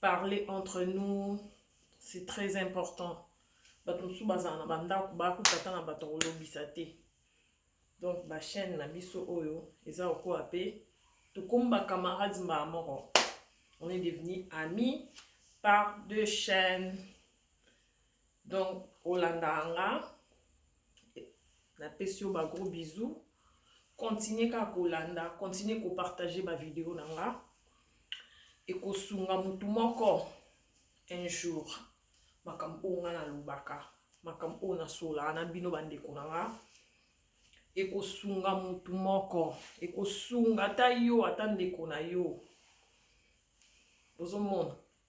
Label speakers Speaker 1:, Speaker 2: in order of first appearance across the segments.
Speaker 1: parler entre nous c'est très important bato mosusu bazala na bandako bakuta ata na bato kolobisa te donc bachaîne na biso oyo eza okoya mpe tokomi bacamarade mbala moko on est devenu ami par deux chaînes Donc olandaka nga napesi yo ba gros bisous continue kaka kolanda continue kopartage bavideo na nga ekosunga motu moko un jour makambo oyo ngai nalobaka makambo oyo nasolaka na bino bandeko na nga ekosunga motu moko ekosunga ata yo ata ndeko na yo ozomona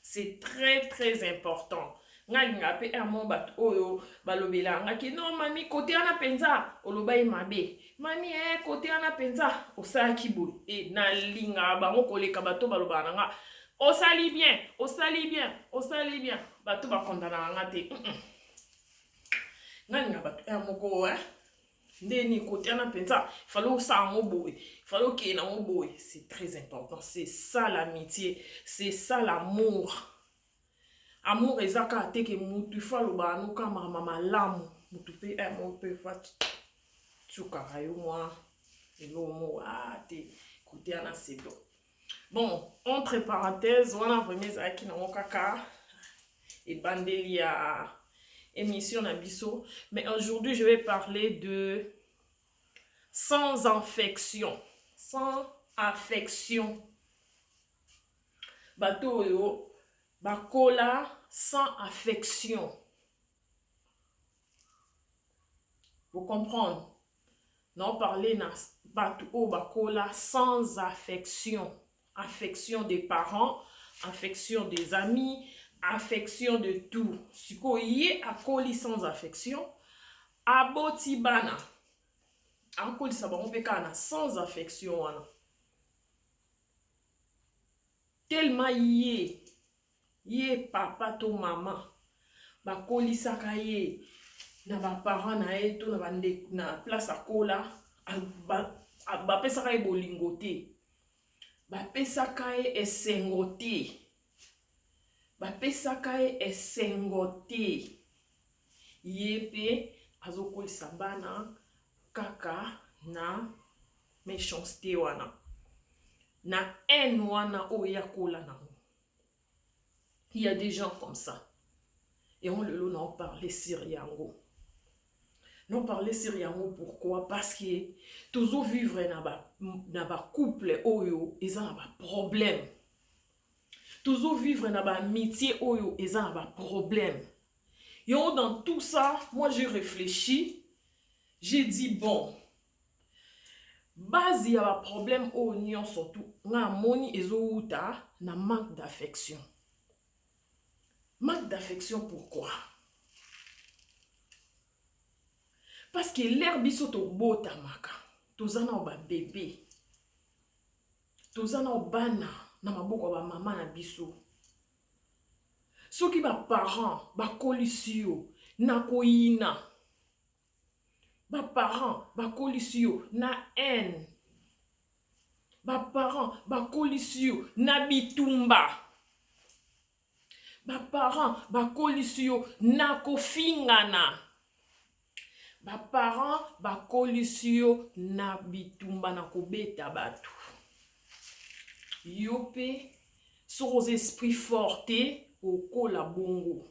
Speaker 1: c'est très très important nga alingaka mpe un mot bato oyo balobelaka nga ke non mami kote wana mpenza oloba ye mabe mami e eh, kote wana mpenza osalaki boye e eh, nalingaka bango koleka bato balobaka na nga osali bien osali bien osali bien bato bakondanaka nga te mm -mm. nga alingaka bato un moko eh? nde nikotiana mpenza fale osala yango boye fale okeye nango boye c'est très important c'est ça l'amitié c'est ça l'amour amour eza kaka te ke mutu ifo alobaka no kaka makambo malamu mutu mpe eh, mo mpe fa tiukaka yo mwa eloo mo a ah, te kotiana sedo bon entre parenthèse wana vraiment ezalaki nango kaka ebandeli ya émission na biso mais aujourd'hui je vais parler de sans infection sans affection bato oyo bakola sans affection Vous comprenez? Non parler na batu oyo bakola sans affection. Affection des parents, affection des amis, affection de tout. Siko ye akoli sans affection, aboti bana. Akolisa bango mpe kaka na sans affection wana. Tellement ye ye papa to mama bakolisaka ye na baparent na ye to na bande na place akola bapesaka ye bolingo te bapesaka ye esengo te bapesaka ye esengo te ye mpe azokolisa bana kaka na méchanceté wana na haine wana oyo ye akola nango il y a des gens comme ça yango lelo nao parle sur yango nao parle sur yango pourquoi parce que tozo vivre na ba, na ba couple oyo eza na ba problème tozo vivre na ba amitié oyo eza na ba problème yango dans tout ça moi j'ai réfléchi j'ai dit bon Base ya ba problème oyo nionso tu nga namoni ezo wuta na manque d'affection. Manque d'affection pourquoi? Parce que l'ère biso tobotamaka toza na ba bebe toza na bana na maboko ya bamama na biso soki baparent bakolisi yo na koyina Ba parents bakolisi yo na haine. Ba parents bakolisi yo na bitumba. Ba parents bakolisi yo na kofingana. Ba parents bakolisi yo na bitumba na kobeta bato. Yo mpe soki oza esprit fort te okola bongo.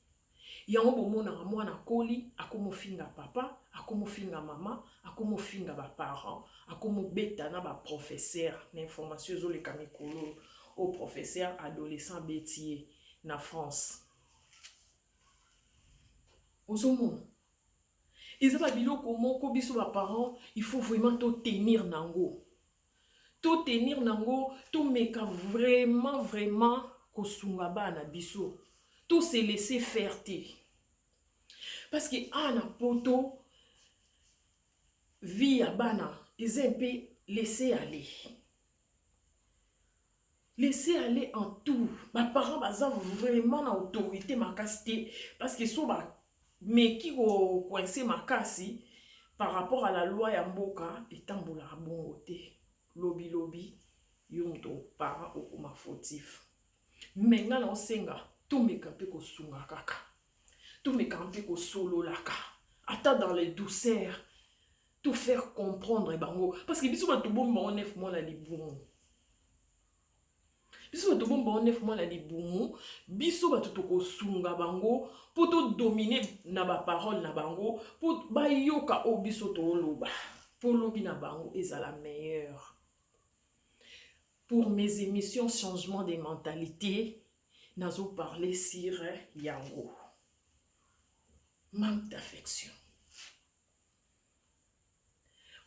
Speaker 1: Yango bomonaka mwana akoli akomofinga papa, akomofinga mama, akomofinga ba parents, akomobeta na ba professeurs na information ezoleka mikolo oyo oh, professeur adolescent abeti ye na France. Ozomona eza ba biloko moko biso ba parents il faut vraiment to tenir nango. to tenir nango tomeka vraiment vraiment kosunga bana na biso to se laisser faire te parce que awa na poto vie ya bana eza mpe laisser aller Laissez aller en tout. Ba parents baza vraiment na autorité makasi te parce que so ba meki ko coincer makasi par rapport à la loi ya mboka etambolaka bongo te. Lobi lobi yo moto parent okoma fautif. Mais nga na osenga tomeka mpe kosunga kaka. Tomeka mpe kosololaka ata dans les douceurs to faire comprendre bango parce que biso bato bomba o nef mwana libumu biso bato bomba o nef mwana libumu biso bato tokosunga bango mpo todomine na baparole na bango mpo bayoka oyo biso tooloba mpo lobi na bango ezala meilleur pour mes émissions changement des mentalités nazo parler sur yango manque d'affection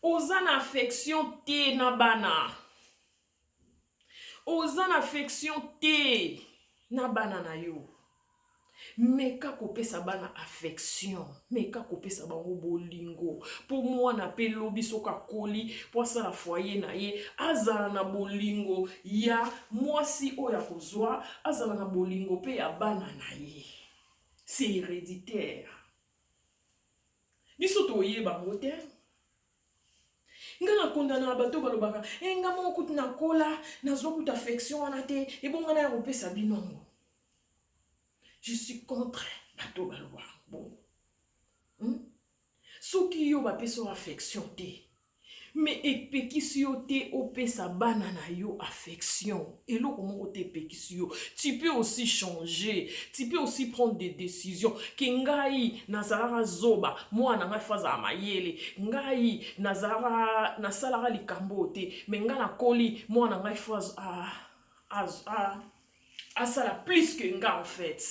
Speaker 1: Oza na affection te na bana, oza na affection te na bana na yo. meka kopesa bana affection meka kopesa bango bolingo mpo mwana mpe lobi soki akoli mpo asala foye na ye azala na bolingo ya mwasi oyo akozwa azala na bolingo mpe ya bana na ye c'est héréditaire biso toyeba yango te nga na kondanaka bato balobaka e eh, nga moko kutu nakola nazwa kutu affection wana te ebonga na ya kopesa bino yango je suis contre bato balobaka bongo hmm? soki yo bapesa yo affection te mais epekisi yo te opesa bana na yo affection eloko moko te epekisi yo tu peux aussi changer tu peux aussi prendre des décisions ke ngai nazalaka zoba mwana ngai fo azala mayele ngai nazalaka nasalaka likambo oyo te mais ngai nakoli mwana ngai fo asala plus que ngai en fait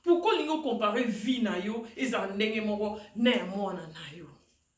Speaker 1: pourkoi olingi okompare vie na yo ezala ndenge moko na ya mwana na yo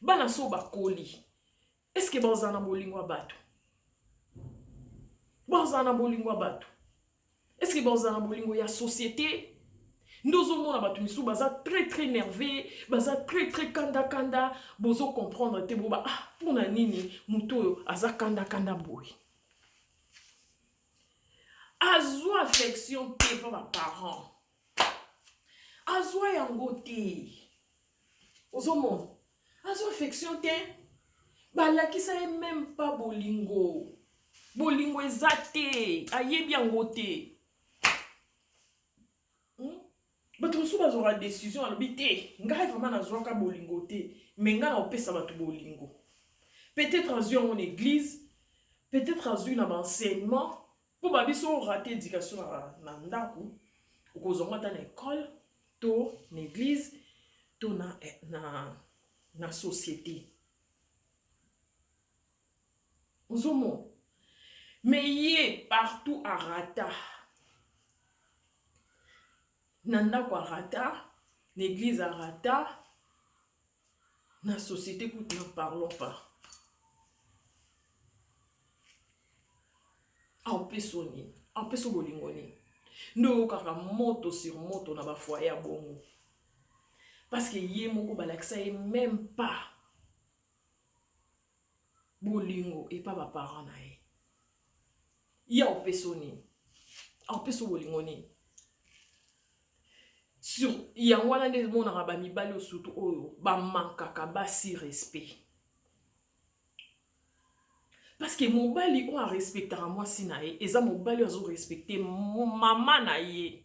Speaker 1: bana so bakoli eske bazala na bolingo ya bato bazala na bolingo ya bato eske bazala na bolingo ya société nde ozomona bato misusu baza très très nerveux baza très très kandakanda bozo comprendre te boba ah mpo na nini moto oyo aza kandakanda boye azwa affection te mpo baparent azwa yango te ozomona azwa affection te balakisa ye meme pa bolingo bolingo eza te ayebi yango te hmm? bato mosusu bazwaka décision alobi te ngai vraimen nazwaka bolingo te me ngai na kopesa bato bolingo peut-être azwi yango na église peut-être azwi na baenseignement Mpo ba biso o rate education na ndaku, okozwa ngo ata na ecole to na eglise to na, na, na societe. Ozomona? Mais ye partout a rata. Na ndaku a rata, na eglise a rata, na société kutu na parlon pas aopesa nini aopesa bolingo nini nde oyokaka moto sur moto na bafoye ya bongo parce que ye moko balakisa ye meme pas bolingo epa ba parents na ye ye aopeso nini aopeso bolingo nini sur yango wana nde emonaka bamibali oyo surtout oyo bamankaka basi respect parce que mobali oyo arespectaka mwasi na ye eza mobali oyo azorespecte mama na ye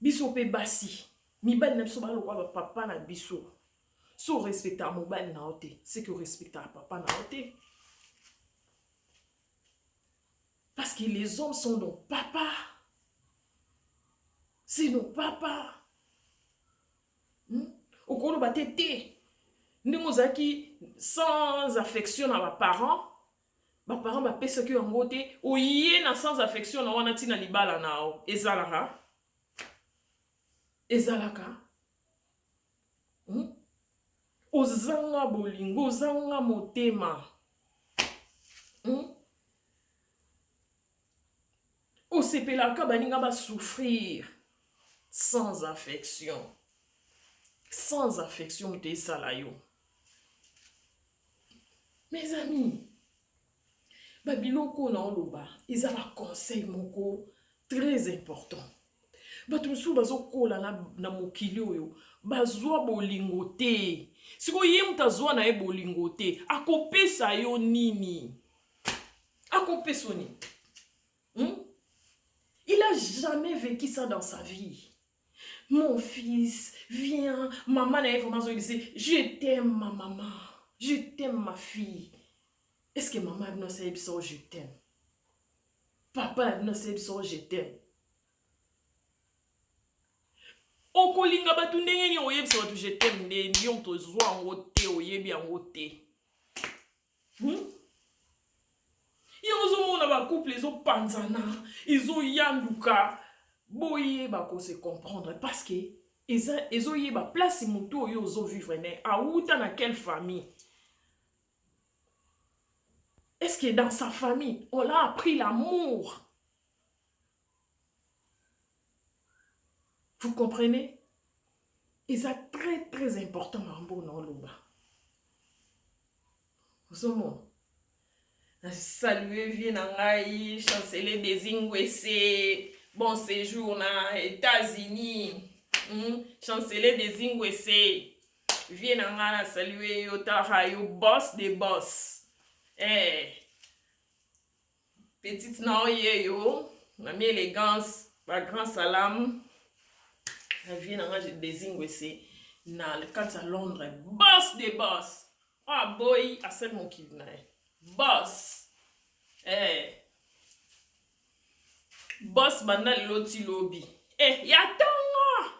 Speaker 1: biso mpe basi mibali na biso baa lokola bapapa na biso so orespectaka mobali na yo te seke orespectaka papa na yo te parce que les hommes sont nos papa c'est nos papa hmm? okoloba te te ndenge ozalaki sans affection na baparent ba parents ba pesa ki yango te oye na sans affection na wana tina libala na yo ezalaka ezalaka hmm? ozanga bolingo ozanga motema hmm? Osepelaka baninga ba souffrir sans affection. Sans affection moto esala yo. Mes amis, ba biloko na oloba eza ba conseil moko très important. bato mosusu bazokola na, na mokili oyo bazwa bolingo te sikoyo ye moto azwa na ye bolingo te akopesa yo nini Akope soni. Hmm? Il a jamais vécu ça dans sa vie. Mon fils, viens. Maman na ye vraiment azongisi, je t'aime ma maman. Je t'aime ma fille. Est-ce que maman abino asali biso je t'aime? Papa na bino asali biso je t'aime. okolinga bato ndenge nini oyebisa bato je t'aime nde yo moto ozwa yango te oyebi yango te Hmm? yango ozomona bacouple ezopanzana ezoyanduka boyeba kose comprendre parce que ezoyeba place motu oyo ozovivre ne awuta na quelle famille est ce que dans sa famille on l'a appris l'amour Vous comprenez? Eza très très important makambo na oloba. Ozomona? Na salue vie na ngai chancelier Desingwese. Bon séjour na États-Unis. Hmm? Chancelier Desingwese. Vie na ngai na salue yo tara yo boss de boss. Eh. Petite na yo yeyo, mami elegance, ba grand salam. Na vie na nga je désigne se na kati ya Londres, boss de boss. Oyo oh, aboyi asali mokili na ye. Boss. Eh. Boss banda lelo ti lobi. Eh, ya tongo.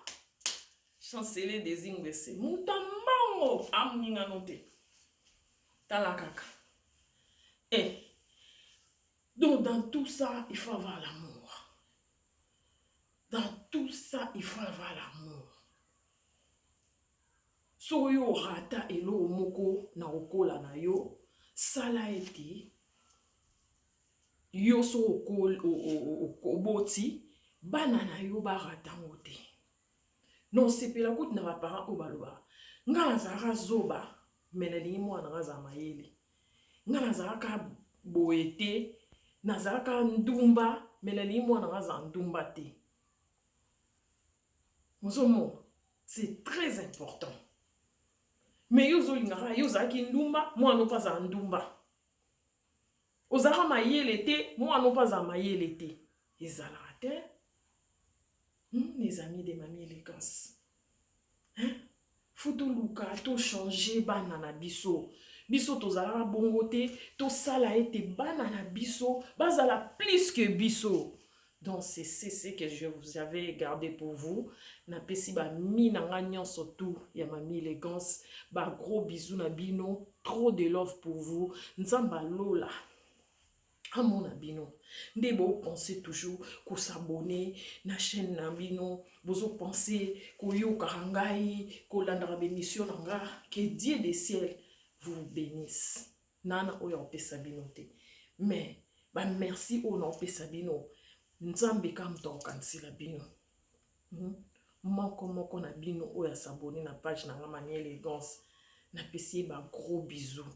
Speaker 1: Chancelier désigne se. Mutambango amuninga no te. tala kaka eh. donc dans tout ça il faut avoir l'amour dans tout ça il faut avoir l'amour soki yo orata eloko moko na kokola na yo sala ete yo soki oboti bana na yo barata yango te Non osepela kutu na ba parents oyo balobaka nga nazalaka zoba mais nalingi mwana nanga azala mayele nga nazalaka boye te nazalaka ndumba mais nalingi mwana nanga azala ndumba te ozomona c'est très important mais yo ozolingaka yo ozalaki ndumba mwana opo azala ndumba Ozalaka mayele te, moi non pas azala mayele te. Ezalaka te. Hmm, les amis de mamie élégance. Hein? Faut toluka, to changer bana na biso. Biso tozalaka bongo te, tosala ete bana na biso bazala plus que biso. Donc c'est ce que je vous avais gardé pour vous. Na pesi ba mi na nga nyonso tout ya mami élégance. Ba gros bisous na bino. Trop de love pour vous. Nzamba lola. amona bino nde bopense toujours kosabone na chaîne na bino bozopense koyokaka ngai kolandaka bemission na nga que dieu de ciel vous bénisse N'a na oyo akopesa bino te mais ba merci oyo naopesa bino nzambe ka moto akokanisela bino hmm? moko moko na bino oyo asabone na page na nga mani elegance napesi ye ba gros bisous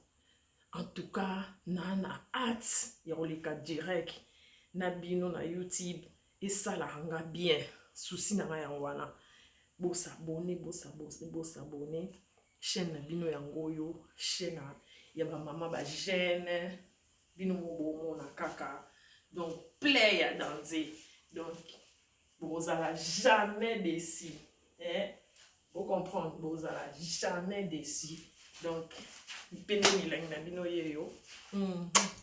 Speaker 1: en tout cas naa na hate ya koleka direct na bino na youtube esalaka nga bien susi na nga yango wana bosabone bosabone bosabone chaîne na bino yango oyo chaîne ya ba mama ba jeune bino mobomona kaka donc play ya danze donc bokozala jamais desi eh? bocomprendre bokozala jamais desi donc mpe nde milangi na bino yeyo mm -hmm.